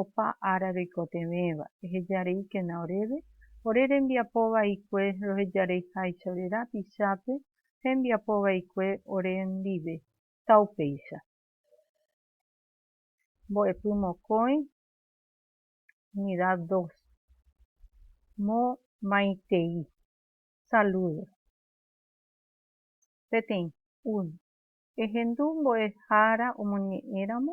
opa ára roikotevẽva, ehejareíkena oréve, ore rembiapo vaikue rohejareiháicha ore rapichápe, hembiapo vaikue ore ndive, taupéicha. Mbo'epy mokõi, unidad dos. Mo maitei. Saludo. Peteĩ, uno. Ehendu mbo'ehára omoñe'ẽramo,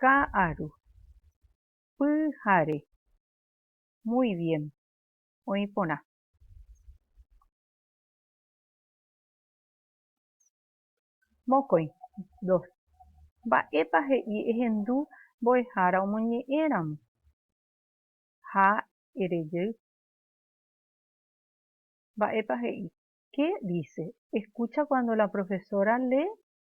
Ka'aru. Pyhare. Muy bien. Oĩ porã. Mokõi. Dos. Mba'épa he'i ehendu mbo'ehára omoñe'ẽramo ha erejey? Mba'épa he'i? Qué dice? Escucha cuando la profesora lee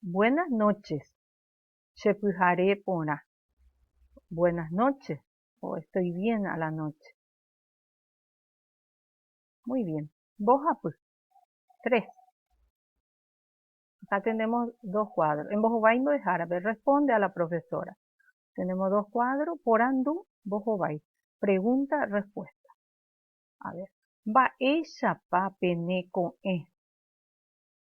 Buenas noches, che pyhare porã. Buenas noche o estoy bien a la noche. Muy bien. Mbohapy. Tres. Acá tenemos dos cuadros. Embohovái mbo'ehárape. Responde a la profesora. Tenemos dos cuadros. Porandu, mbohovái. Pregunta, respuesta. A ver. Mba'éichapa pene ko'ẽ?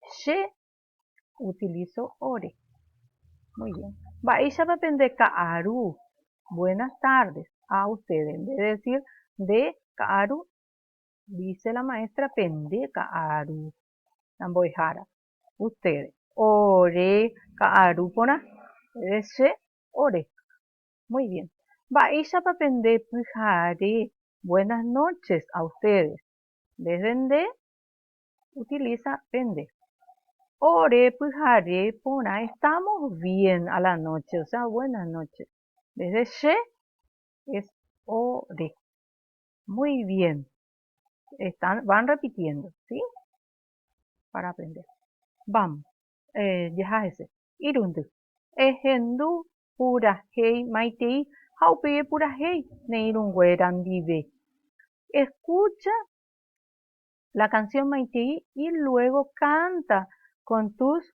Che utilizo ore. Muy bien. Mba'éichapa pende ka'aru. Buenas tardes a ustedes. En vez de decir nde ka'aru, dice la maestra pende ka'aru. La mbo'ehára. Ustedes. Ore ka'aru porã. Entonces, che ore. Muy bien. Mba'éichapa pende pyhare. Buenas noches a ustedes. En vez de nde, utiliza pende. Ore pyhare porã estamos bien a la noche, o sea, buenas noches. Vez de che es ore. Muy bien. Están, van repitiendo, ¿sí? Para aprender. Vamos. Eh, jahajese. Irundy. Ehendu purahei maitei ha upéi epurahei ne irũnguéra ndive. Escucha la canción maitei y luego canta con tus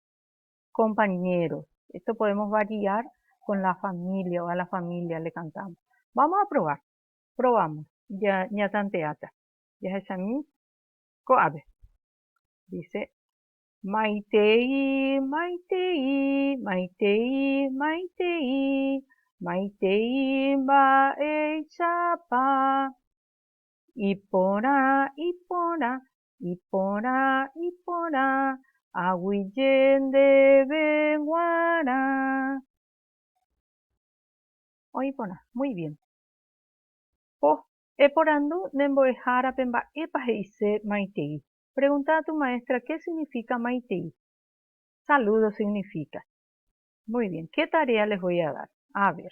compañeros. Esto podemos variar con la familia o a la familia le cantamos. Vamos a probar. Probamos. Ya ñatanteáta. Jahechami ko'ápe. Dice maitei, maitei, maitei, maitei, maitei mba'eichapa. Iporã, iporã, iporã, iporã, aguyje ndéve guarã. Oĩ porã. Muy bien. Po, eporandu ne mbo'ehárape mba'épa he'ise maitei. Pregunta a tu maestra qué significa maitei. Saludos significa. Muy bien. Qué tarea les voy a dar? A ver.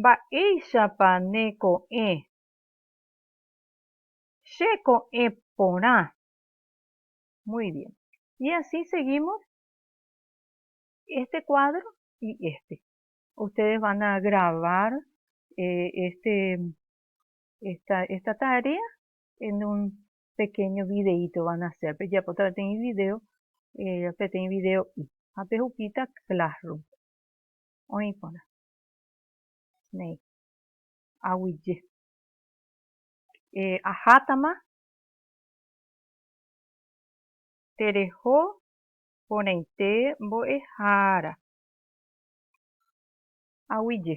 Mba'éichapa ne ko'ẽ. Che ko'ẽ porã. Muy bien. Y así seguimos este cuadro y este. Ustedes van a grabar eh, este, esta, esta tarea en un pequeño videito van a hacer. Pero ya otra vez video, eh, video y. Ape hupita classroom. Oĩ porã. néi, aguije. Ahátama tereho porãite mbo'ehára, aguije.